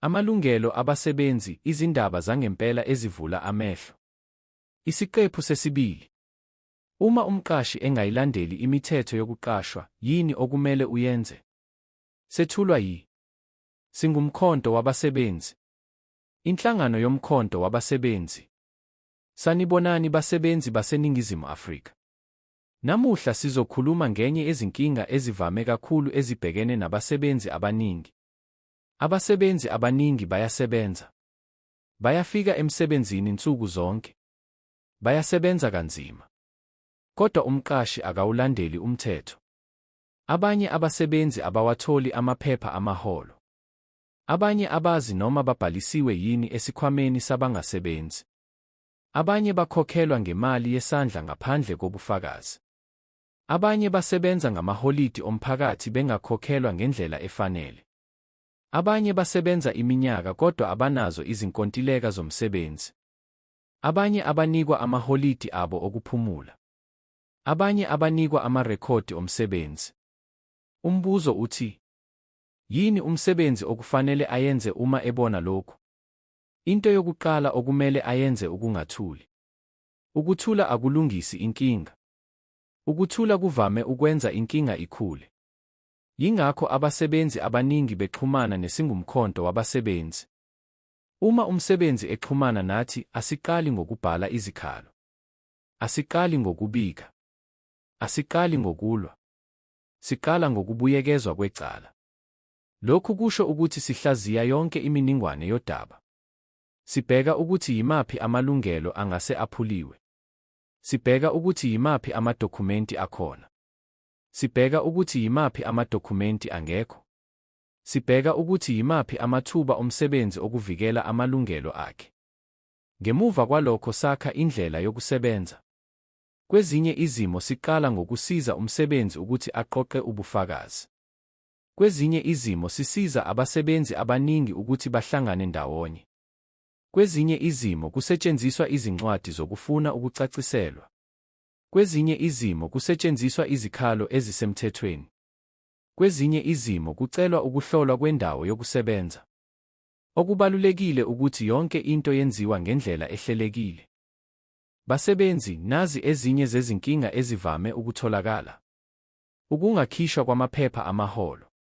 Amalungelo abasebenzi, izindaba zangempela ezivula amehlo. Isiqephu sesibili. Uma umqashi engayilandeli imithetho yokuqashwa, yini okumele uyenze? Sethulwa yi Singumkhonto wabasebenzi. Inhlangano yomkhonto wabasebenzi. Sanibonani basebenzi baseNingizimu Afrika. Namuhla sizokhuluma ngenye yezinkinga ezivame kakhulu ezibhekene nabasebenzi abaningi. Abasebenzi abaningi bayasebenza. Bayafika emsebenzini nsuku zonke. Bayasebenza kanzima. Kodwa umqashi akawulandeli umthetho. Abanye abasebenzi abawatholi amaphepha amaholo. Abanye abazi noma babhalisiwe yini esikhwameni sabangasebenzi. Abanye bakhokhelwa ngemali yesandla ngaphandle kobufakazi. Abanye basebenza ngamaholidi omphakathi bengakhokhelwa ngendlela efanele. Abanye basebenza iminyaka kodwa abanazo izinkontileka zomsebenzi. Abanye abanikwa amaholidi abo okuphumula. Abanye abanikwa amarekhodi omsebenzi. Umbuzo uthi, Yini umsebenzi okufanele ayenze uma ebona lokhu? Into yokuqala okumele ayenze ukungathuli. Ukuthula akulungisi inkinga. Ukuthula kuvame ukwenza inkinga ikhule. Yingakho abasebenzi abaningi bexhumana nesingumkhonto wabasebenzi. Uma umsebenzi exhumana nathi, asiqali ngokubhala izikhalo. Asiqali ngokubika. Asiqali ngokulwa. Siqala ngokubuyekezwa kwecala. Lokhu kusho ukuthi sihlaziya yonke iminingwane yodaba. Sibheka ukuthi yimaphi amalungelo angase aphuliwe. Sibheka ukuthi yimaphi amadokhumenti akhona. Sibheka ukuthi yimaphi amadokhumenti angekho. Sibheka ukuthi yimaphi amathuba omsebenzi okuvikela amalungelo akhe. Ngemuva kwalokho sakha indlela yokusebenza. Kwezinye izimo siqala ngokusiza umsebenzi ukuthi aqoqe ubufakazi. Kwezinye izimo sisiza abasebenzi abaningi ukuthi bahlangane ndawonye. Kwezinye izimo kusetshenziswa izincwadi zokufuna ukucaciselwa. Kwezinye izimo kusetshenziswa izikhalo ezisemthethweni. Kwezinye izimo kucelwa ukuhlolwa kwendawo yokusebenza. Okubalulekile ukuthi yonke into yenziwa ngendlela ehlelekile. Basebenzi, nazi ezinye zezinkinga ezivame ukutholakala. Ukungakhishwa kwamaphepha amaholo.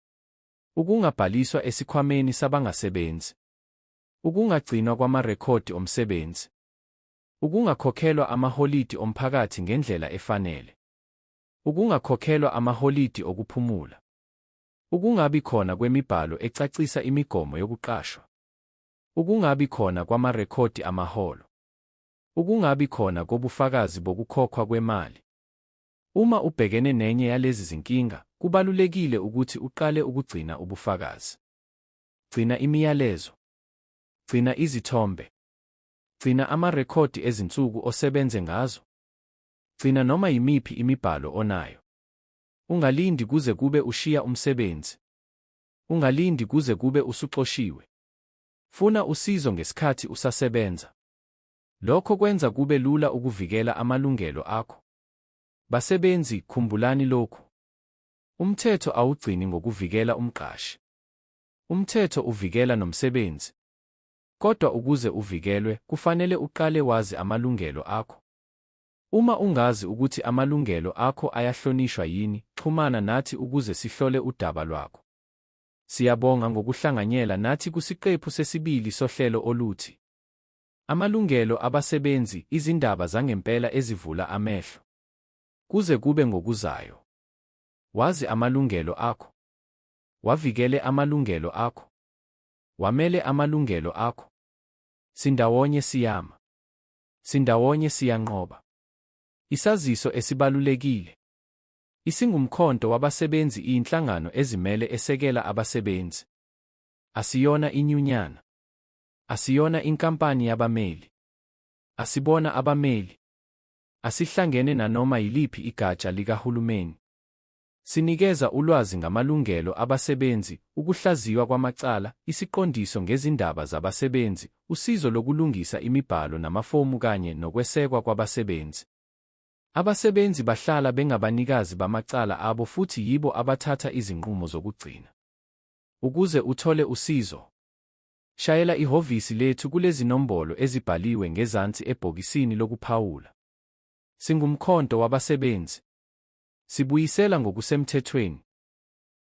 Ukungabhaliswa esikhwameni sabangasebenzi. Ukungagcinwa kwamarekhodi omsebenzi. Ukungakhokhelwa amaholidi omphakathi ngendlela efanele. Ukungakhokhelwa amaholidi okuphumula. Ukungabi khona kwemibhalo ecacisa imigomo yokuqashwa. Ukungabi khona kwamarekhodi amaholo. Ukungabi khona kobufakazi bokukhokhwa kwemali. Uma ubhekene nenye yalezi zinkinga, kubalulekile ukuthi uqale ukugcina ubufakazi. Gcina imiyalezo. Gcina izithombe. Gcina amarekhodi ezinsuku osebenze ngazo. Gcina noma yimiphi imibhalo onayo. Ungalindi kuze kube ushiya umsebenzi. Ungalindi kuze kube usuxoshiwe. Funa usizo ngesikhathi usasebenza. Lokho kwenza kube lula ukuvikela amalungelo akho. Basebenzi, khumbulani lokhu. Umthetho awugcini ngokuvikela umqashi. Umthetho uvikela nomsebenzi. Kodwa ukuze uvikelwe, kufanele uqale wazi amalungelo akho. Uma ungazi ukuthi amalungelo akho ayahlonishwa yini, xhumana nathi ukuze sihlole udaba lwakho. Siyabonga ngokuhlanganyela nathi kusiqephu sesibili sohlelo oluthi Amalungelo Abasebenzi, Izindaba Zangempela Ezivula Amehlo. Kuze kube ngokuzayo, wazi amalungelo akho. Wavikele amalungelo akho. Wamele amalungelo akho. Sindawonye siyama. Sindawonye siyanqoba. Isaziso esibalulekile. IsiNgumkhonto wabasebenzi iyinhlangano ezimele esekela abasebenzi. Asiyona inyunyana. Asiyona inkampani yabameli. Asibona abameli. Asihlangene nanoma yiliphi igatsha likahulumeni. Sinikeza ulwazi ngamalungelo abasebenzi, ukuhlaziywa kwamacala, isiqondiso ngezindaba zabasebenzi, usizo lokulungisa imibhalo namafomu kanye nokwesekwa kwabasebenzi. Abasebenzi bahlala bengabanikazi bamacala abo futhi yibo abathatha izinqumo zokugcina. Ukuze uthole usizo, shayela ihhovisi lethu kulezinombolo ezibhaliwe ngezansi ebhokisini lokuphawula. SinguMkhonto wabasebenzi. Sibuyisela ngokusemthethweni.